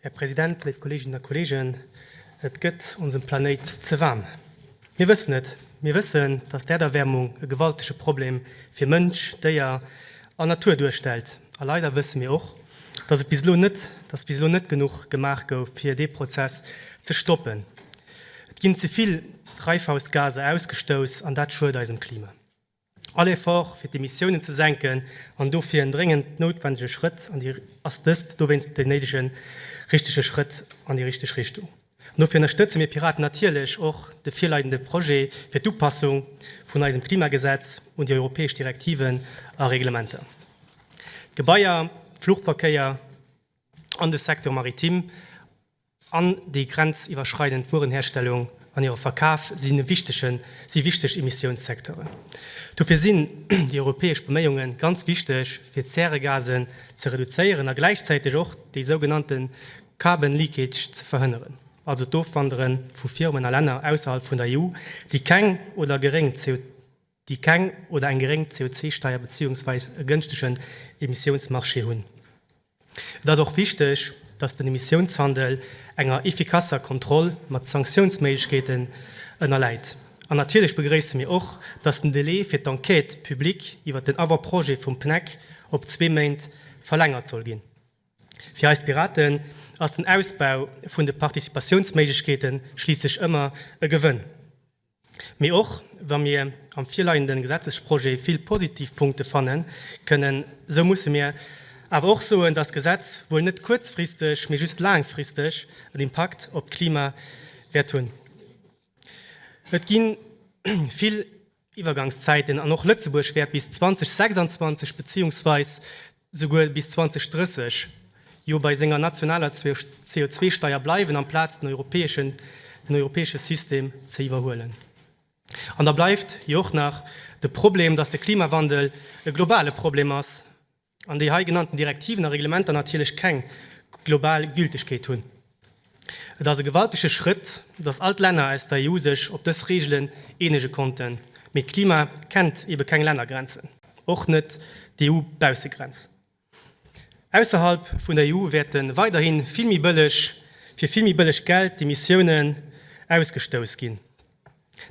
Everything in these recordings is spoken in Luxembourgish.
Här President, léif Kolleeginnen a Kolleegen, et gëtt onsem Planéit ze waarm. Mir wëssen et. Mir wëssen, dass d'Äerderwäermung e gewaltege Problem fir Mënsch, Déier an Natur duerstellt. A leider wësse mir och, dass et bis elo net, dass bis elo net genuch gemaach gouf, fir dee Prozess ze stoppen. Et ginn ze vill Treifhausgaser ausgestouss, an dat schuet eisem Klima. All Effort, fir d'Emissiounen ze senken, an dofir en dréngend noutwendege Schrëtt, ass dëst dowéinst deen néidege richtege Schrëtt an déi richteg Richtung. An dofir ënnerstëtze mir Piraten natierlech och de virleidende Projet fir d'Upassung vun eisem Klimagesetz un déi europäesch Direktiven a Reglementer. D'Gebaier, de Fluchverkéier an de Secteur maritime an déi grenziwwerschreidend Wuerenherstellung an hire Verkaf si wichteg Emissiounssecteuren. Dofir sinn déi europäesch Beméiunge ganz wichteg, fir d'Zäregasen ze reduzéieren a gläichzäiteg och dee sougenannte carbon leakage ze verhënneren, also d'Ofwandere vu Firmen a Länner ausserhalb vun der EU, déi keng oder geréng CO. déi keng oder eng geréng CO2-Steier beziehungsweis e gënschtegen Emissiounsmarché hunn. Et ass och wichteg, dass den Emissiounshandel enger effikasser Kontroll mat Sanktiounsméiglechkeeten ënnerläit. An natierlech begréisse mir och, dass den Delai fir d'Enquête publique iwwert den Avant-projet vum PNEC op zwee Méint verlängert soll ginn. Fir eis Piraten ass den Ausbau vun de Participatiounsméiglechkeete schliisslech ëmmer e Gewënn. Mee och wa mir am virleiende Gesetzesprojet vill positiv Punkte fanne kënnen, esou musse mir awer och soen, dass d'Gesetz wuel net kuerzfristeg, mee just laangfristeg en Impakt op d'Klima wäert hunn. Et gi vill Iwwergangszäiten an och Lëtzebuerg wäert bis 2026 beziehungsweis souguer bis 2030, jo bei senger nationaler CO2-Steier bleiwen, amplaz den europäeschen den europäesche System ze iwwerhuelen. An da bleift jo och nach de Problem, dass de Klimawandel e globale Problem ass an déi hei genannten Direktiven a Reglementer natierlech keng global Gültegkeet hunn. Et ass e gewaltege Schrëtt, datt all d'Länner aus der EU sech op dës Reegelen eenege konnten. Mee d'Klima kennt ebe keng Lännergrenzen, och net d'EU-Baussegrenz. Ausserhalb vun der EU wäerte weiderhi vill méi bëlleg, fir vill méi bëlleg Geld d'Emissiounen ausgestouss ginn.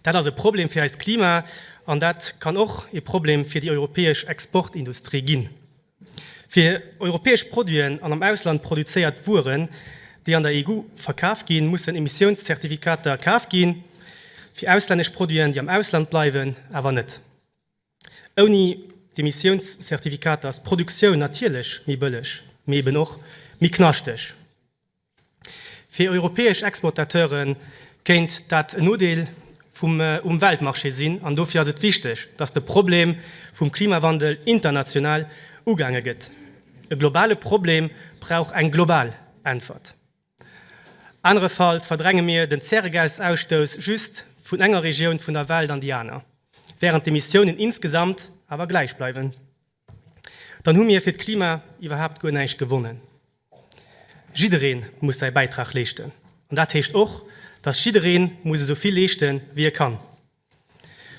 Dat ass e Problem fir eist Klima an dat kann och e Problem fir déi europäesch Exportindustrie ginn. Fir europäesch Produiten an am Ausland produzéiert Wueren, déi an der EU verkaf ginn, mussen Emissiounszertifikater kaf ginn, fir auslännesch Produiten, déi am Ausland bleiwen, awer net. Ouni d'Emissiounszertifikater ass d'Produktioun natierlech méi bëlleg, mee eben och méi knaschteg. Fir europäesch Exportateure kéint dat en Nodeel vum um Weltmarché sinn an dofir ass et wichteg, datt de Problem vum Klimawandel international ugaange gëtt. E globale Problem brauch eng global Äntwert. Anerefalls verdränge mir den Zäregasausstouss just vun enger Regioun vun der Welt an déi aner, wärend d'Emissiounen insgesamt awer gläich bleiwen. dann hu mir fir d'Klima iwwerhaapt guer näischt gewonnen. Jidderee muss säi Bäitrag leeschten an dat heescht och, datt jidderee muss esou vill leeschte wéi e kann.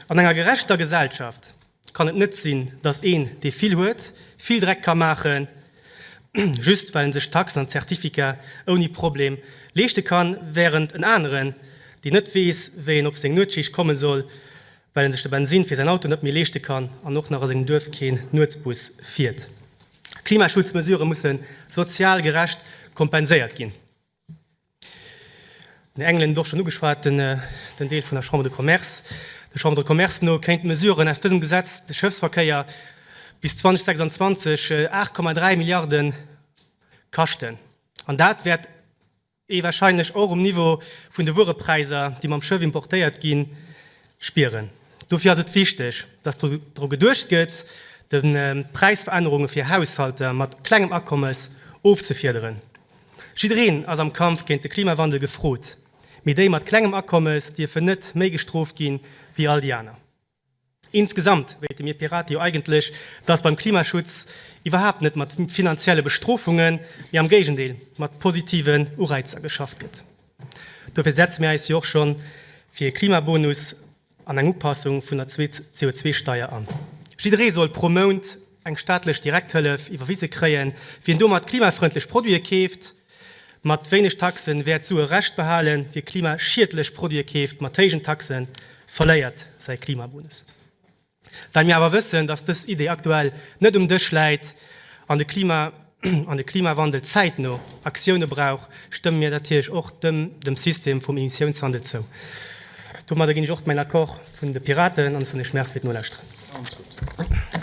An enger gerechter Gesellschaft kann et net sinn, datt een, dee vill huet, vill Dreck ka maachen, just well en sech d'Taxen an d'Certificate ouni Problem leeschte kann, wärend en aneren, deen net weess, wéi en op seng Nuetsschicht komme soll, well en sech de Bensin fir säin Auto net méi leeschte kann an och nach a sengem Duerf keen Nuetsbus fiert. Klimaschutzmesurë musse sozial gerecht kompenséiert ginn. Den Engelen huet et och schonn ugeschwat, den Deel vun der Chambre de Commerce. Der Chambre de Commerce no kéinten d'Mesuren aus dësem Gesetz de Schëffsverkéier bis 2026 8,3 Milliarden kaschten an dat wäert ee wahrscheinlech och um Niveau vun de Wuerepräiser, déi mam Schëff importéiert ginn, spieren. Dofir ass et wichteg, dass dru geduecht gëtt, de Präisverännerunge fir Haushalter mat klengem Akommes ofzefiederen. Jiddereen ass am Kampf géint de Klimawandel gefrot, mee déi mat klengem Akommes dierfen net méi gestrooft gi wéi all déi aner. Insgesamt wéilte mir Pirate jo eigentlech, dass beim Klimaschutz iwwerhaapt net mat finanzielle Bestrofungen, mee am Géigendeel mat positiven Ureizer geschafft gëtt. Dofir setze mir eis jo och scho fir e Klimabonus an eng Upassung vun der CO2-Steier an. Jidderee soll pro Mount eng staatlech Direkthëllef iwwerwise kréien. Wien domat klimafrëndlech Produite keeft, Mat wéineg Taxen wäert Sue Rescht behalen, wie klimaschiedlech Produite keeft, mat héijen Taxen verléiert säi Klimabonus. Well mir awer wëssen, datt dës Idee aktuell net um Dësch läit an de Klima an de Klimawandel zäitno Aktioune brauch, stëmme mir natierlech och dem dem System vum Emissiounshandel zou. Domadder ginn ech och mäin Accord vun de Piraten an ech soen Iech Merci fir d'Nolauschteren.